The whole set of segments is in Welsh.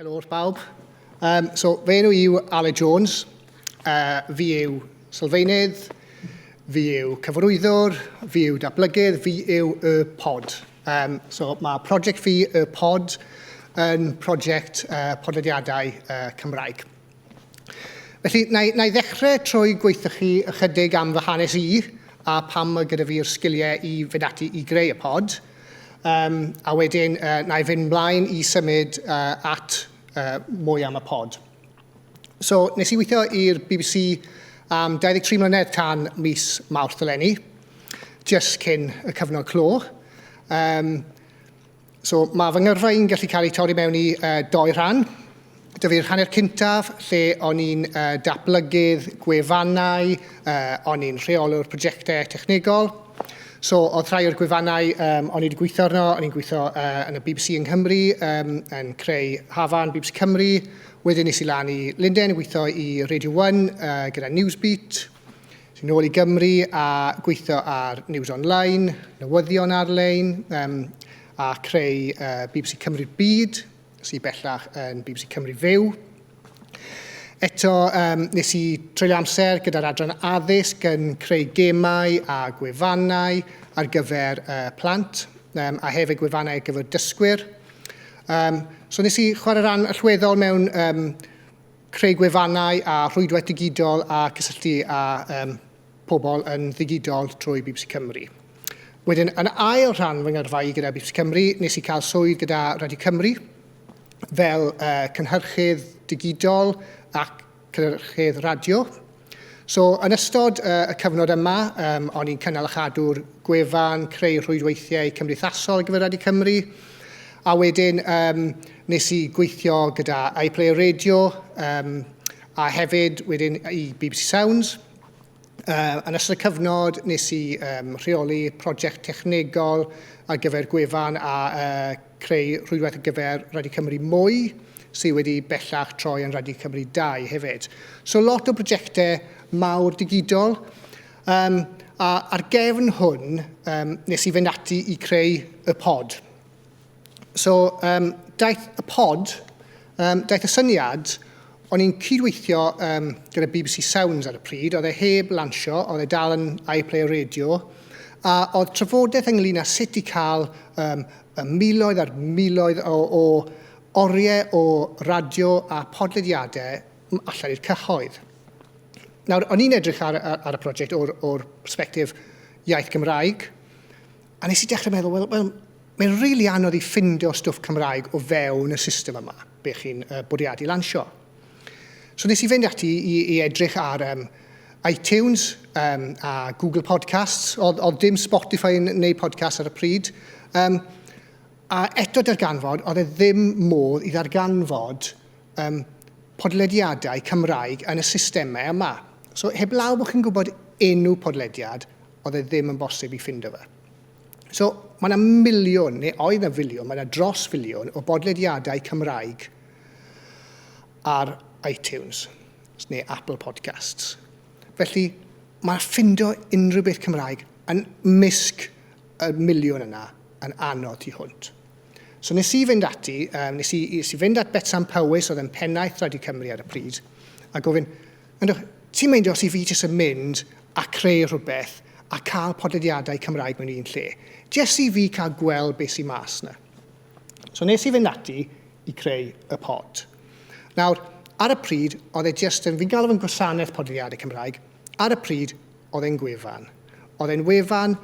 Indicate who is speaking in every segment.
Speaker 1: Helo wrth bawb. Um, so, fe nhw yw Ale Jones, uh, fi yw sylfaenydd, fi yw cyfarwyddwr, fi yw datblygydd, fi yw y pod. Um, so, mae prosiect fi y pod yn prosiect uh, podlediadau uh, Cymraeg. Felly, na i, na i ddechrau trwy gweithio chi ychydig am fy hanes i a pam mae gyda fi'r sgiliau i fynd ati i greu y pod. Um, a wedyn, uh, na i fynd mlaen i symud uh, at uh, mwy am y pod. So, nes i weithio i'r BBC am 23 mlynedd tan mis Mawrth eleni, just cyn y cyfnod clo. Um, So mae fy ngyrfa i'n gallu cael ei torri mewn i uh, doi rhan. Dyf i'r hanner cyntaf lle o'n i'n uh, datblygydd gwefannau, uh, o'n i'n rheolwr prosiectau technegol. So oedd rhai o'r gwefannau um, o'n i wedi gweithio arno, o'n i'n gweithio uh, yn y BBC yng Nghymru, um, yn creu Hafan, BBC Cymru. Wedyn nes i lan i Linden, gweithio i Radio 1 uh, gyda Newsbeat. Yn ôl i Gymru a gweithio ar News Online, newyddion ar-lein um, a creu uh, BBC Cymru'r Byd, sy'n bellach yn BBC Cymru Fyw. Eto, um, nes i treulio amser gyda'r adran addysg yn creu gemau a gwefannau ar gyfer uh, plant, um, a hefyd gwefannau ar gyfer dysgwyr. Um, so nes i chwarae rhan allweddol mewn um, creu gwefannau a rhwydwaith digidol a cysylltu â um, pobl yn ddigidol trwy BBC Cymru. Wedyn, yn ail rhan fy ngyrfa i gyda BBC Cymru, nes i cael swydd gyda Radio Cymru fel uh, cynhyrchydd digidol ac cynhyrchydd radio. So, yn ystod uh, y cyfnod yma, um, o'n i'n cynnal a chadw'r gwefan, creu rhwydweithiau cymdeithasol ar gyfer Radio Cymru, a wedyn um, nes i gweithio gyda iPlayer Radio, um, a hefyd wedyn i BBC Sounds. Uh, yn ystod y cyfnod, nes i um, rheoli prosiect technegol ar gyfer gwefan a uh, creu rhwydwaith ar gyfer Rhadio Cymru Mwy, sydd wedi bellach troi yn Rhadio Cymru Dau hefyd. So lot o brojectau mawr digidol. Um, a ar gefn hwn, um, nes i fynd ati i creu y pod. So, um, daeth y pod Um, daeth y syniad, o'n i'n cydweithio um, gyda BBC Sounds ar y pryd, oedd e heb lansio, oedd e dal yn iPlayer Radio, a oedd trafodaeth ynglyn â sut i cael um, miloedd ar miloedd o, o oriau o radio a podlediadau allan i'r cyhoedd. Nawr, o'n i'n edrych ar, ar, ar y prosiect o'r, or perspektif iaith Gymraeg, A nes i dechrau meddwl, wel, wel, mae'n rili really anodd i ffindio stwff Cymraeg o fewn y system yma, be chi'n uh, bwriadu lansio. So nes i fynd ati i, i edrych ar um, iTunes um, a Google Podcasts, oedd, oedd dim Spotify yn neu podcast ar y pryd. Um, a eto darganfod, oedd e ddim modd i ddarganfod um, podlediadau Cymraeg yn y systemau yma. So heb law bod chi'n gwybod enw podlediad, oedd e ddim yn bosib i ffindo fe. So, mae yna miliwn, neu oedd yna filiwn, mae yna dros filiwn o bodlediadau Cymraeg ar iTunes, neu Apple Podcasts. Felly, mae ffindo unrhyw beth Cymraeg yn misg y miliwn yna yn anodd tu hwnt. So nes i fynd ati, um, nes, i, nes i fynd at Betsan Powys, oedd yn pennaeth Radio Cymru ar y pryd, a gofyn, Ond ych ti'n meindio os i fi jyst yn mynd a creu rhywbeth a cael podlediadau Cymraeg mewn un lle? Jyst i fi cael gweld beth sy'n mas na. So nes i fynd ati i creu y pod. Nawr, ar y pryd, oedd e jyst yn, fi'n galw fe'n gwasanaeth podlediadau Cymraeg, ar y pryd, oedd e'n gwefan. Oedd e'n wefan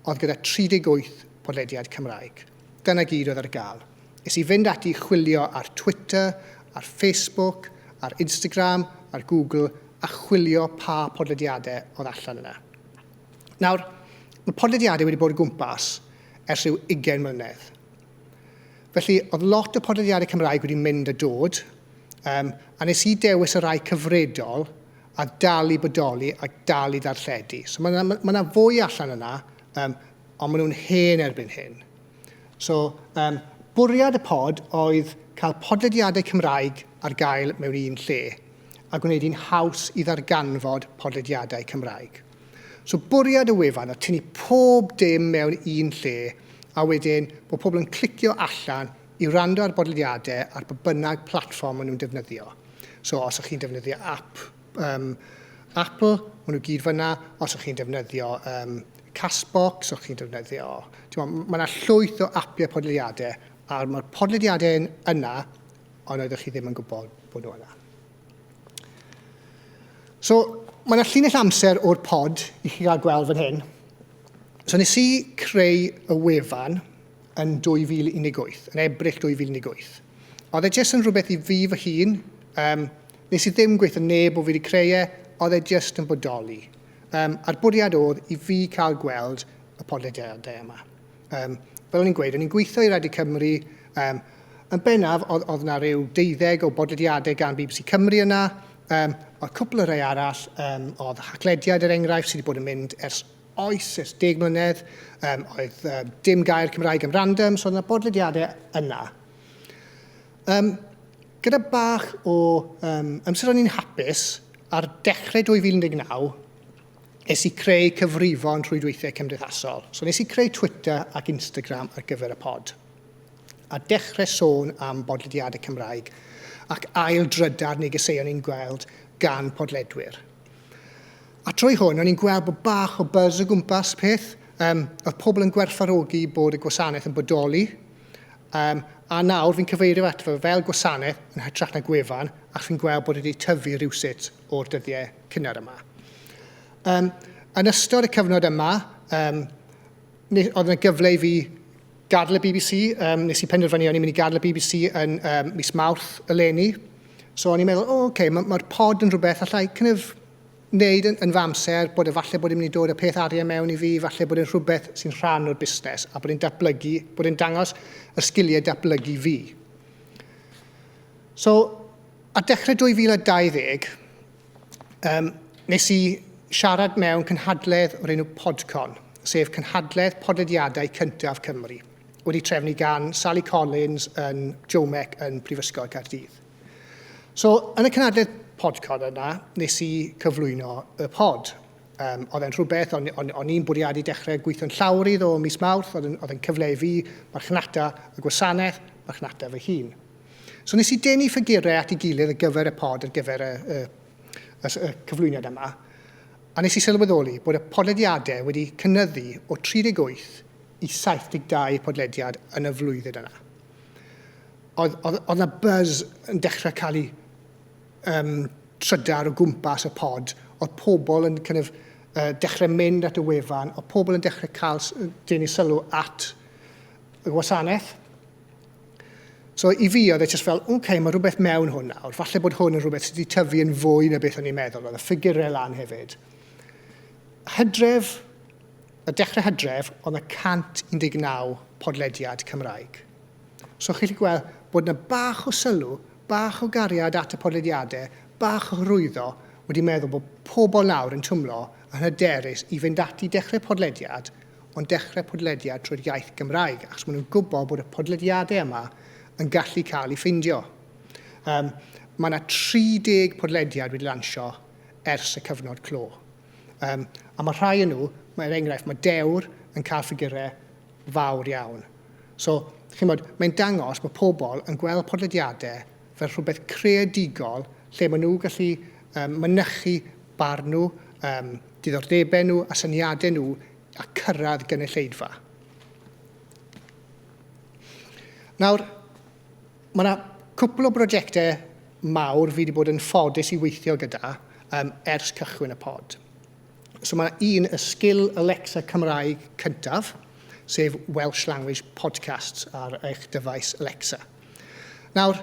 Speaker 1: oedd gyda 38 podlediad Cymraeg. Dyna gyd oedd ar gael. Es i fynd ati i chwilio ar Twitter, ar Facebook, ar Instagram, ar Google a chwilio pa podlediadau oedd allan yna. Nawr, mae podlediadau wedi bod o gwmpas ers rhyw 20 mlynedd. Felly, oedd lot o podlediadau Cymraeg wedi mynd a dod, um, a nes i dewis y rai cyfredol a dal i bodoli a dal i ddarlledu. So mae yna ma, ma fwy allan yna um, Ond maen nhw'n hen erbyn hyn. So, um, bwriad y pod oedd cael podlediadau Cymraeg ar gael mewn un lle a gwneud hi'n haws i ddarganfod podlediadau Cymraeg. So bwriad y wefan o tynnu pob dim mewn un lle a wedyn bod pobl yn clicio allan i rando ar bodlediadau ar bod bynnag platfform maen nhw'n defnyddio. So os ych chi'n defnyddio app um, Apple, maen nhw gyd fyna, os ych chi'n defnyddio um, Castbox o'ch chi'n defnyddio. Timod, mae yna llwyth o apiau podlediadau, a mae'r podlediadau yn yna, ond oeddech chi ddim yn gwybod bod nhw yna. So, mae yna llinell amser o'r pod i chi gael gweld fan hyn. So, nes i creu y wefan yn 2018, yn Ebrill 2018. Oedd e jyst yn rhywbeth i fi fy hun, um, nes i ddim gweithio neb o fi wedi creu e, oedd e jyst yn bodoli. Yym, a'r bwriad oedd i fi cael gweld y podlediadau yma. Yym, fel o'n i'n gweud, o'n i'n gweithio i Radio Cymru, um, yn bennaf oedd, oedd yna rhyw deuddeg o bodlediadau gan BBC Cymru yna, um, oedd cwpl o rhai arall, um, oedd haclediad yr er enghraifft sydd wedi bod yn mynd ers oes, ers deg mlynedd, um, oedd um, dim gair Cymraeg am random, so oedd yna bodlediadau yna. Um, gyda bach o um, amser o'n i'n hapus, ar dechrau 2019, es i creu cyfrifon rhwydweithiau cymdeithasol. So nes i creu Twitter ac Instagram ar gyfer y pod. A dechrau sôn am bodlediadau Cymraeg ac ail drydar negeseuon i'n gweld gan podledwyr. A trwy hwn, o'n i'n gweld bod bach o buzz o gwmpas peth. Um, oedd pobl yn gwerthfarogi bod y gwasanaeth yn bodoli, Um, a nawr fi'n cyfeirio at fe fel gwasanaeth yn hytrach na gwefan, ac fi'n gweld bod wedi tyfu rhywsut o'r dyddiau cynnar yma. Um, yn ystod y cyfnod yma, um, oedd yna gyfle i fi gadw y BBC, um, nes i penderfynu o'n i'n mynd i gadw y BBC yn um, mis Mawrth eleni. So o'n i'n meddwl, o, oh, okay, mae'r ma pod yn rhywbeth allai kind of wneud yn, yn fy amser, bod efallai bod e'n mynd i dod â peth arian mewn i fi, efallai bod e'n rhywbeth sy'n rhan o'r busnes a bod e'n datblygu, bod e'n dangos y sgiliau datblygu fi. So, ar dechrau 2020, um, nes i siarad mewn cynhadledd o'r enw Podcon, sef cynhadledd podlediadau cyntaf Cymru, wedi trefnu gan Sally Collins yn Jomec yn Prifysgol Caerdydd. So, yn y cynadledd podcast yna, nes i cyflwyno y pod. Um, oedd e'n rhywbeth, o'n, on, on i'n bwriadu dechrau gweithio'n llawr i ddo mis mawrth, oedd e'n cyfle i fi, marchnata y gwasanaeth, marchnata fy hun. So nes i denu ffigurau at ei gilydd ar gyfer y pod, ar gyfer y, y, y, y cyflwyniad yma, a nes i sylweddoli bod y podlediadau wedi cynnyddu o 38 i 72 podlediad yn y flwyddyn yna. oedd, oedd, oedd na buzz yn dechrau cael ei um, trydar o gwmpas y pod, oedd pobl yn kind of, uh, dechrau mynd at y wefan, oedd pobl yn dechrau cael denu sylw at y gwasanaeth. So i fi oedd e just fel, oce, okay, mae rhywbeth mewn hwn nawr, falle bod hwn yn rhywbeth sydd wedi tyfu yn fwy na beth o'n i'n meddwl, oedd y ffigurau lan hefyd. Hydref, Ar dechrau hydref oedd yna 119 podlediad Cymraeg. So chi'n gallu gweld bod yna bach o sylw, bach o gariad at y podlediadau, bach o hyrwyddo wedi meddwl bod pobl nawr yn twmlo yn hyderus i fynd ati i dechrau podlediad, ond dechrau podlediad trwy'r iaith Gymraeg, achos maen nhw'n gwybod bod y podlediadau yma yn gallu cael ei ffeindio. Um, mae yna 30 podlediad wedi lansio ers y cyfnod clo. Um, a mae rhai yn nhw, mae er enghraifft, mae dewr yn cael ffigurau fawr iawn. So, chi'n bod, mae'n dangos bod pobl yn gweld podlediadau fel rhywbeth creadigol lle maen nhw gallu um, mynychu barn nhw, um, diddordebau nhw a syniadau nhw a cyrraedd gynulleidfa. Nawr, Mae yna cwpl o brosiectau mawr fi wedi bod yn ffodus i weithio gyda um, ers cychwyn y pod. So mae un y sgil Alexa Cymraeg cyntaf, sef Welsh Language Podcasts ar eich dyfais Alexa. Nawr,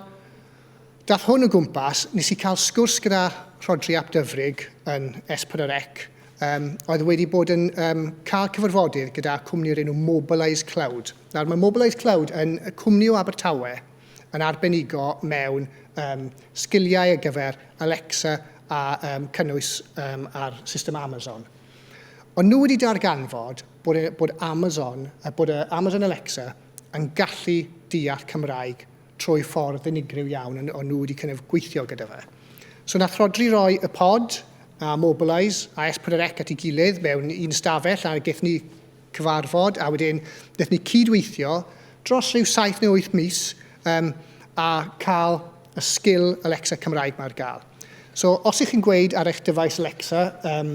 Speaker 1: dath hwn o gwmpas, nes i cael sgwrs gyda Rhodri Ap Dyfrig yn S4C um, oedd wedi bod yn um, cael cyfarfodydd gyda cwmni o'r enw Mobilise Cloud. Nawr, mae Mobilise Cloud yn y cwmni o Abertawe yn arbenigo mewn um, sgiliau ar gyfer Alexa a um, cynnwys um, ar system Amazon. Ond nhw wedi darganfod bod, e, bod Amazon, bod e, Amazon Alexa yn gallu deall Cymraeg trwy ffordd unigryw iawn, ond nhw wedi kind of gweithio gyda fe. So nath Rodri roi y pod a Mobilise a S4C at ei gilydd mewn un stafell a gaeth ni cyfarfod a wedyn gaeth ni cydweithio dros rhyw 7 neu 8 mis um, a cael y sgil Alexa Cymraeg mae'r gael. So os ych chi'n gweud ar eich dyfais Alexa, um,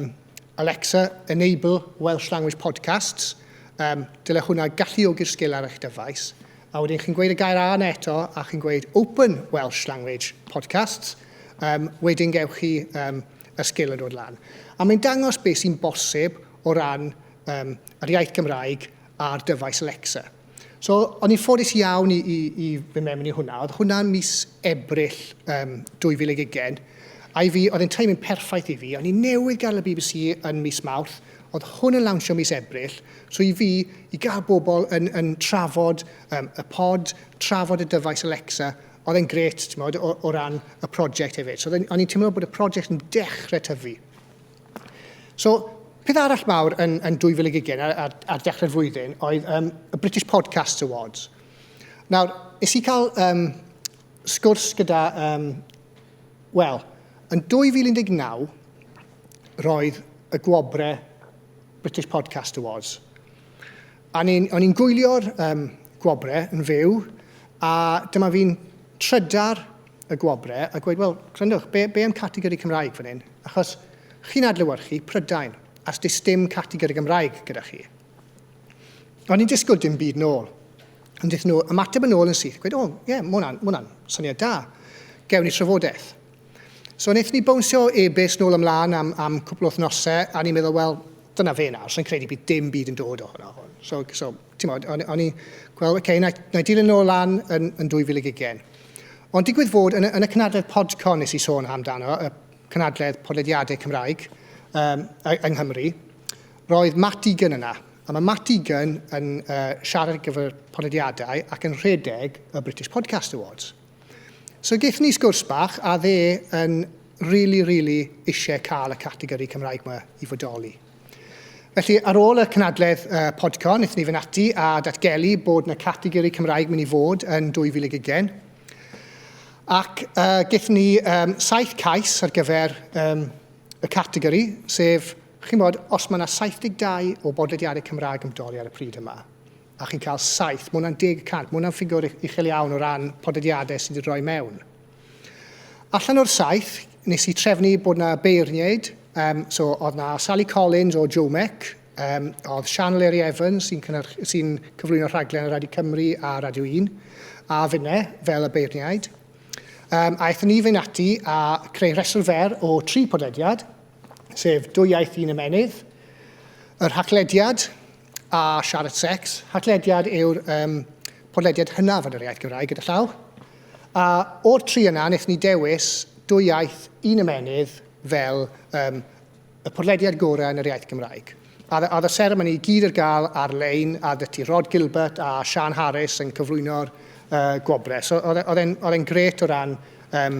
Speaker 1: Alexa, enable Welsh language podcasts. Um, dyle hwnna galluogi'r sgil ar eich dyfais. A wedyn chi'n gweud y gair A yna eto, a chi'n gweud open Welsh language podcasts. Um, wedyn gewch chi um, y sgil yn dod lan. A mae'n dangos beth sy'n bosib o ran um, yr iaith Gymraeg ar dyfais Alexa. So, o'n i'n ffodus iawn i, i, i fy mewn i hwnna. Oedd hwnna'n mis Ebrill um, 2020. A i fi, oedd yn timing perffaith i fi. O'n i'n newydd gael y BBC yn mis Mawrth. Oedd hwn yn lawnsio mis Ebrill. So i fi, i gael bobl yn, yn trafod um, y pod, trafod y dyfais Alexa, oedd e'n gret, ti'n modd, o, o ran y prosiect hefyd. So o'n i'n teimlo bod y prosiect yn dechrau tyfu. So, peth arall mawr yn, yn 2020 ar, ar, ar dechrau'r flwyddyn oedd um, y British Podcasts Awards. Nawr, nes i cael um, sgwrs gyda, um, wel, yn 2019, roedd y gwobre British Podcast Awards. A ni'n, o'n i'n gwylio'r um, gwobre yn fyw, a dyma fi'n trydar y gwobre a gweud, wel, gryndwch, be, be am categori Cymraeg fan hyn? Achos chi'n adlywyrchu Prydain, a sdi dim categori Gymraeg gyda chi. O'n i'n disgwyl dim byd nôl. Ond dych nhw ymateb yn ôl yn syth, gweud, o, ie, yeah, mwna'n, mwna'n syniad da. Gewn ni trafodaeth. So wnaethon ni bownsio e-byst nôl ymlaen am, am cwpl o wythnosau, a ni'n meddwl, wel, dyna fe nawr, so'n credu bydd dim byd yn dod ohono hwn. So, so ti'n modd, o'n, on i, gweld, okay, na, na dilyn nôl lan yn, yn 2020. Ond digwydd fod, yn, yn y cynadledd Podcon nes i sôn amdano, y cynadledd podlediadau Cymraeg um, yng Nghymru, roedd Matt Egan yna. A mae Matt Egan yn uh, siarad gyfer podlediadau ac yn rhedeg y British Podcast Awards. So gaethon ni sgwrs bach a dde yn really, really eisiau cael y categori Cymraeg yma i fodoli. Felly, ar ôl y cynadledd uh, Podcon, wnaethon ni fynd ati a datgelu bod yna categori Cymraeg mynd i fod yn 2020. Ac uh, gaethon ni um, saith cais ar gyfer um, y categori, sef, chi'n bod, os mae yna 72 o bodlediadau Cymraeg yn bodoli ar y pryd yma, a chi'n cael saith, mae hwnna'n deg y cant, mae hwnna'n ffigwr uchel iawn o ran podediadau sydd wedi rhoi mewn. Allan o'r saith, nes i trefnu bod yna beirniaid, um, so oedd yna Sally Collins o Jomec, um, oedd Sian Leri Evans sy'n sy cyflwyno rhaglen ar Radio Cymru a Radio 1, a finne fel y beirniaid. Um, a eithon ni fe'n ati a creu rheswr fer o tri podediad, sef dwy iaith un ymenydd, yr haclediad, a siarad sex. Hatlediad yw'r um, podlediad hynaf yn yr iaith Gymraeg gyda llaw. A o'r tri yna, wnaethon ni dewis dwy iaith, un ymenydd fel um, y podlediad gorau yn yr iaith Gymraeg. A oedd y seremoni gyd ar gael ar-lein, a dyti Rod Gilbert a Sian Harris yn cyflwyno'r uh, gwobrau. So e, oedd e'n gret o ran um,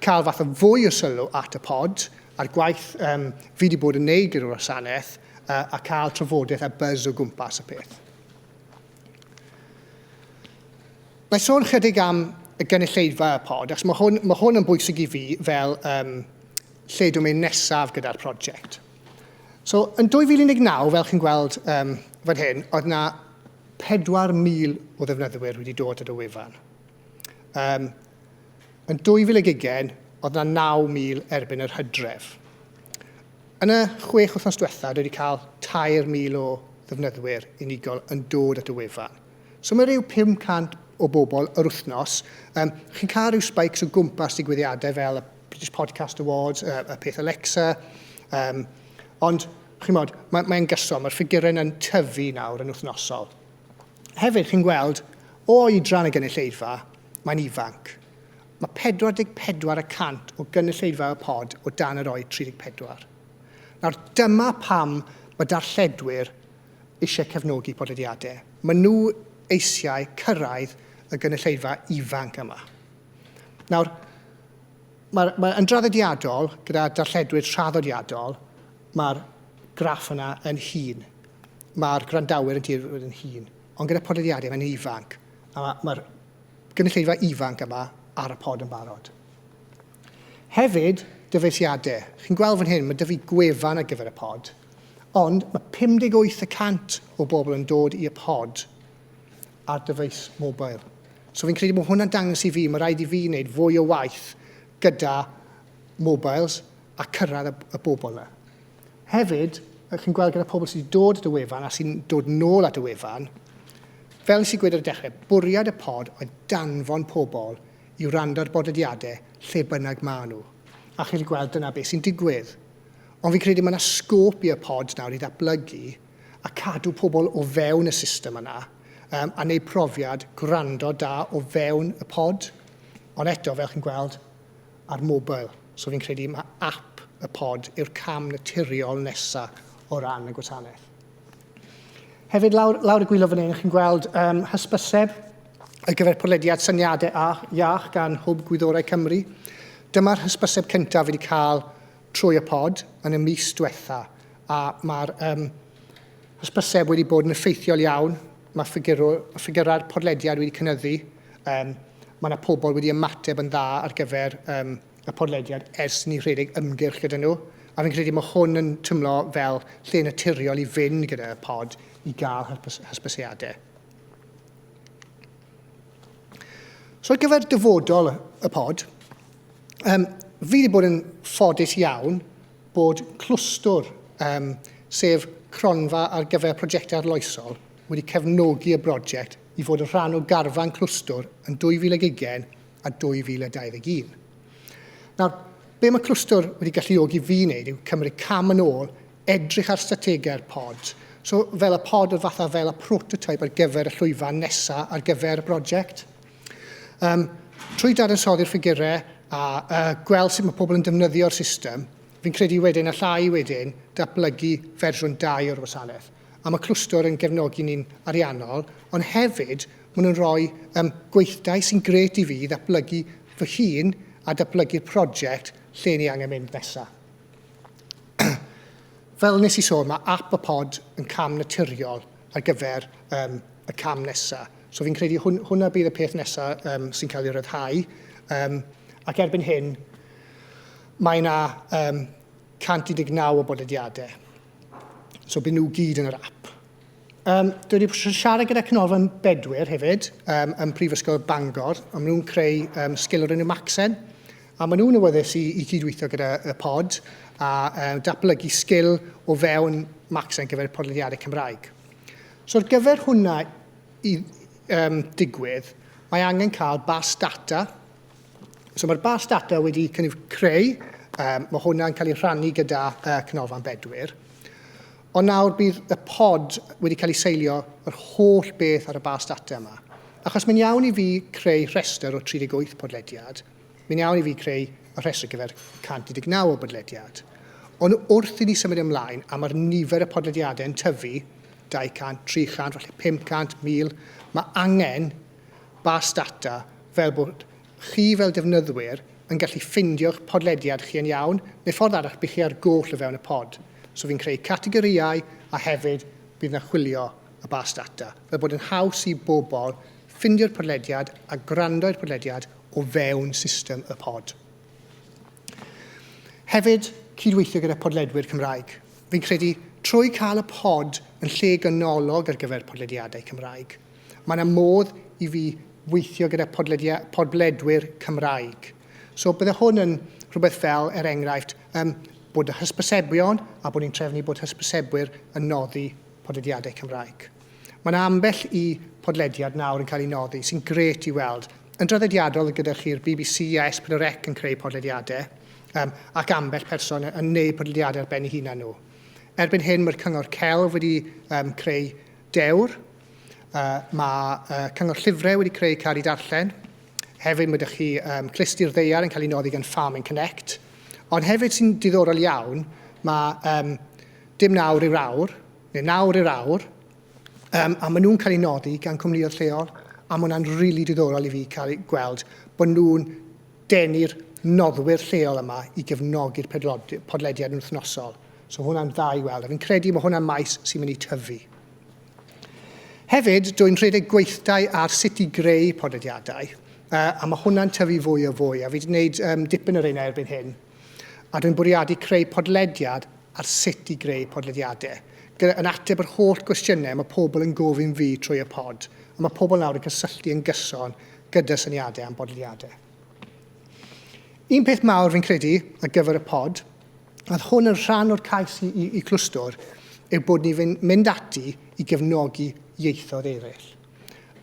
Speaker 1: cael fath o fwy o sylw at y pod a'r gwaith um, fi wedi bod yn neud gyda'r wasanaeth a, a cael trafodaeth a buzz o gwmpas y peth. Mae sôn chydig am y gynulleidfa y pod, achos mae hwn, mae hwn yn bwysig i fi fel um, lle dwi'n mynd nesaf gyda'r prosiect. So, yn 2019, fel chi'n gweld um, fan hyn, oedd yna 4,000 o ddefnyddwyr wedi dod at y wefan. Um, Yn 2020, oedd yna 9,000 erbyn yr hydref. Yn y chwech wythnos diwetha, dwi wedi cael 3,000 o ddefnyddwyr unigol yn dod at y wefan. So mae rhyw 500 o bobl yr wythnos. Um, chi'n cael rhyw spikes o gwmpas digwyddiadau fel y British Podcast Awards, y, y peth Alexa, um, ond chi'n modd, mae'n mae gyson, mae'r ffigurau yn tyfu nawr yn wythnosol. Hefyd, chi'n gweld, o oedran y gynulleidfa, Mae'n ifanc. Mae 44 y cant o gynulleidfa y pod o dan yr oed 34. Nawr, dyma pam mae darlledwyr eisiau cefnogi podlediadau. Maen nhw eisiau cyrraedd y gynulleidfa ifanc yma. Nawr, mae, mae yn draddodiadol gyda darlledwyr traddodiadol, mae'r graff yna yn hun. Mae'r gwrandawyr yn dweud yn hun. Ond gyda podlediadau, mae'n ifanc. A mae'r gynulleidfa ifanc yma ar y pod yn barod. Hefyd, dyfeisiadau. Chi'n gweld fan hyn, mae dyfu fi gwefan ar gyfer y pod, ond mae 58 y cant o bobl yn dod i'r pod ar dyfeis mobil. So fi'n credu bod hwnna'n dangos i fi, mae rhaid i fi wneud fwy o waith gyda mobiles a cyrraedd y, y bobl yna. Hefyd, ych chi'n gweld gyda pobl sydd wedi dod at y wefan a sy'n dod nôl at y wefan, fel nes i gweud ar y dechrau, bwriad y pod oedd danfon pobl i wrando ar bodlediadau lle bynnag maen nhw. A chi wedi gweld dyna beth sy'n digwydd. Ond fi'n credu mae yna sgôp i'r pod nawr i ddatblygu a cadw pobl o fewn y system yna um, a wneud profiad gwrando da o fewn y pod. Ond eto, fel chi'n gweld, ar mobile. So fi'n credu mae app y pod yw'r cam naturiol nesa o ran y gwasanaeth. Hefyd, lawr, lawr y gwylio fan hyn, chi'n gweld um, hysbyseb ar gyfer podlediad syniadau a iach gan Hwb Gwyddorau Cymru. Dyma'r hysbyseb cyntaf wedi cael trwy y pod yn y mis diwetha, a mae'r um, hysbyseb wedi bod yn effeithiol iawn Mae ffigyrau'r podlediad wedi cynyddu. Um, mae yna pobl wedi ymateb yn dda ar gyfer um, y podlediad ers ni rhedeg ymgyrch gyda nhw. A fi'n credu mae hwn yn tymlo fel lle naturiol i fynd gyda pod i gael hysbysiadau. So ar gyfer dyfodol y pod, um, fi wedi bod yn ffodus iawn bod clwstwr, um, sef cronfa ar gyfer prosiectau arloesol, wedi cefnogi y brosiect i fod yn rhan o garfan clwstwr yn 2020 a 2021. Nawr, be mae clwstwr wedi galluogi fi wneud yw cymryd cam yn ôl, edrych ar strategaeth pod, so fel y pod oedd fatha fel y prototype ar gyfer y llwyfan nesaf ar gyfer y brosiect. Um, trwy dadansoddi'r ffigurau a uh, gweld sut mae pobl yn defnyddio'r system, fi'n credu wedyn allai wedyn datblygu fersiwn 2 o'r wasanaeth. A mae clwstwr yn gefnogi ni'n ariannol, ond hefyd maen nhw'n rhoi um, gweithdai sy'n gret i fi i ddatblygu fy hun a datblygu'r prosiect lle ni angen mynd nesaf. Fel nes i sôn, mae app y pod yn cam naturiol ar gyfer um, y cam nesaf. So fi'n credu hwn, hwnna bydd y peth nesaf um, sy'n cael ei ryddhau. Um, ac erbyn hyn, mae yna um, 119 o bodlediadau. So byd nhw gyd yn yr app. Um, dwi wedi siarad gyda Cynolfan Bedwyr hefyd, um, yn Prifysgol Bangor, a maen nhw'n creu um, sgil o'r enw Maxen, a maen nhw'n awyddus i, i cydweithio gyda y pod a um, datblygu sgil o fewn Maxen gyfer podlediadau Cymraeg. So ar gyfer hwnna i um, digwydd, mae angen cael bas data. So mae'r bas data wedi cynnig creu, um, mae hwnna'n cael ei rhannu gyda uh, Cynolfan Bedwyr. Ond nawr bydd y pod wedi cael ei seilio yr holl beth ar y bas data yma. Achos mae'n iawn i fi creu rhestr o 38 podlediad, Mae'n iawn i fi creu y rhestr ar gyfer 119 o bodlediad, ond wrth i ni symud ymlaen a mae'r nifer y podlediadau yn tyfu, 200, 300, falle 500, 1000, mae angen bas data fel bod chi fel defnyddwyr yn gallu ffeindio'ch podlediad chi yn iawn, neu ffordd arall bych chi ar goll o fewn y pod. So fi'n creu categorïau a hefyd bydd yna chwilio y bas data, fel bod yn haws i bobl ffindio'r podlediad a gwrando i'r podlediad o fewn system y pod. Hefyd, cydweithio gyda podledwyr Cymraeg. Fi'n credu trwy cael y pod yn lle ganolog ar gyfer podlediadau Cymraeg, mae yna modd i fi weithio gyda podledwyr Cymraeg. So bydde hwn yn rhywbeth fel, er enghraifft, um, bod y hysbysebion a bod ni'n trefnu bod hysbysebwyr yn noddi podlediadau Cymraeg. Mae yna ambell i podlediad nawr yn cael ei noddi, sy'n grêt i weld. Yn draddodiadol gyda chi'r bbc a S4C yn creu podlediadau, um, ac ambell person yn gwneud podlediadau ar ben ei hunan nhw. Erbyn hyn mae'r Cyngor Celf wedi um, creu dewr, uh, mae uh, Cyngor Llyfrau wedi creu car i darllen, hefyd mae ydych chi um, clustir ddeiar yn cael ei noddi gan Farming Connect, ond hefyd sy'n diddorol iawn, mae um, dim nawr yw'r awr, neu nawr i'r awr, um, a maen nhw'n cael eu nodi gan cwmnïoedd lleol, a mae hwnna'n rili really diddorol i fi cael ei gweld bod nhw'n denu'r noddwyr lleol yma i gefnogi'r podlediad yn wythnosol. So hwnna'n dda i weld, a fi'n credu mae hwnna'n maes sy'n mynd i tyfu. Hefyd, dwi'n rhedeg gweithdai ar sut i greu podlediadau, uh, a mae hwnna'n tyfu fwy o fwy, a fi wedi gwneud um, dipyn o'r ein erbyn hyn, a rwy'n bwriadu creu podlediad ar sut i greu podlediadau, gyda, yn ateb yr holl gwestiynau mae pobl yn gofyn fi trwy y pod, a mae pobl nawr yn cysylltu yn gyson gyda syniadau am bodlediadau. Un peth mawr fi'n credu ar gyfer y pod, a oedd hwn yn rhan o'r cais i, i, i Clwstwr, yw bod ni fyn- mynd ati i gefnogi ieithoedd eraill.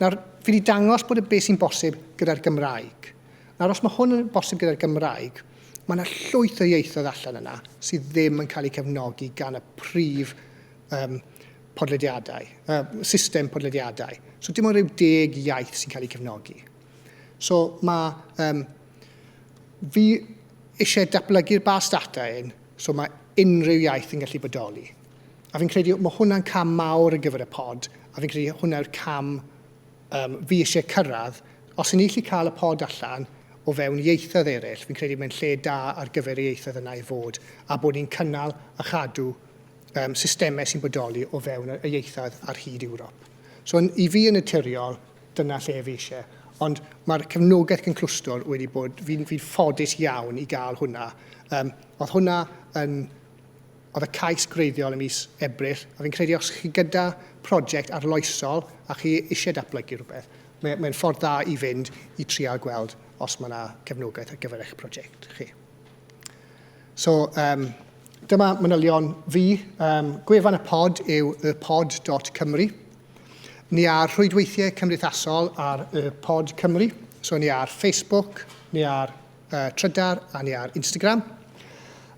Speaker 1: Nawr, fi wedi dangos bod y beth sy'n bosib gyda'r Gymraeg. Nawr, os mae hwn yn bosib gyda'r Gymraeg, mae yna llwyth o ieithoedd allan yna sydd ddim yn cael eu cefnogi gan y prif um, podlediadau, uh, system podlediadau. So dim ond rhyw deg iaith sy'n cael eu cefnogi. So mae um, fi eisiau datblygu'r bas data un, so mae unrhyw iaith yn gallu bodoli. A fi'n credu mae hwnna'n cam mawr ar gyfer y pod, a fi'n credu hwnna yw'r cam Yym, fi isie cyrradd. Os yn ni allu cael y pod allan o fewn ieithoedd eraill, fi'n credu mae'n lle da ar gyfer y ieithoedd yna i fod, a bod ni'n cynnal a chadw um, systemau sy'n bodoli o fewn y ieithoedd ar hyd Ewrop. So, yn, i fi yn y tiriol, dyna lle fi eisiau. Ond mae'r cefnogaeth gynclwstwr wedi bod, fi'n fi ffodus iawn i gael hwnna. Um, oedd hwnna yn oedd y cais gwreiddiol ym mis Ebrill, a fi'n credu os chi gyda prosiect arloesol a chi eisiau datblygu rhywbeth, mae'n mae ffordd dda i fynd i trial gweld os mae yna cefnogaeth ar gyfer eich prosiect chi. So, um, dyma manylion fi. Um, gwefan y pod yw y pod.cymru. Ni ar rhwydweithiau cymdeithasol ar y pod Cymru. So ni ar Facebook, ni ar y trydar a ni ar Instagram.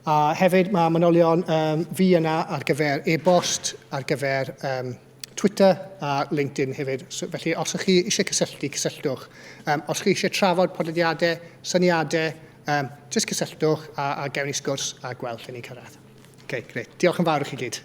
Speaker 1: A hefyd mae manylion um, fi yna ar gyfer e-bost, ar gyfer um, Twitter a LinkedIn hefyd. So, felly os ych chi eisiau cysylltu, cysylltwch. Um, os chi eisiau trafod podlediadau, syniadau, um, jyst cysylltwch a, a gewn ni sgwrs a gweld lle ni'n cyrraedd. Okay, great. Diolch yn fawr i chi gyd.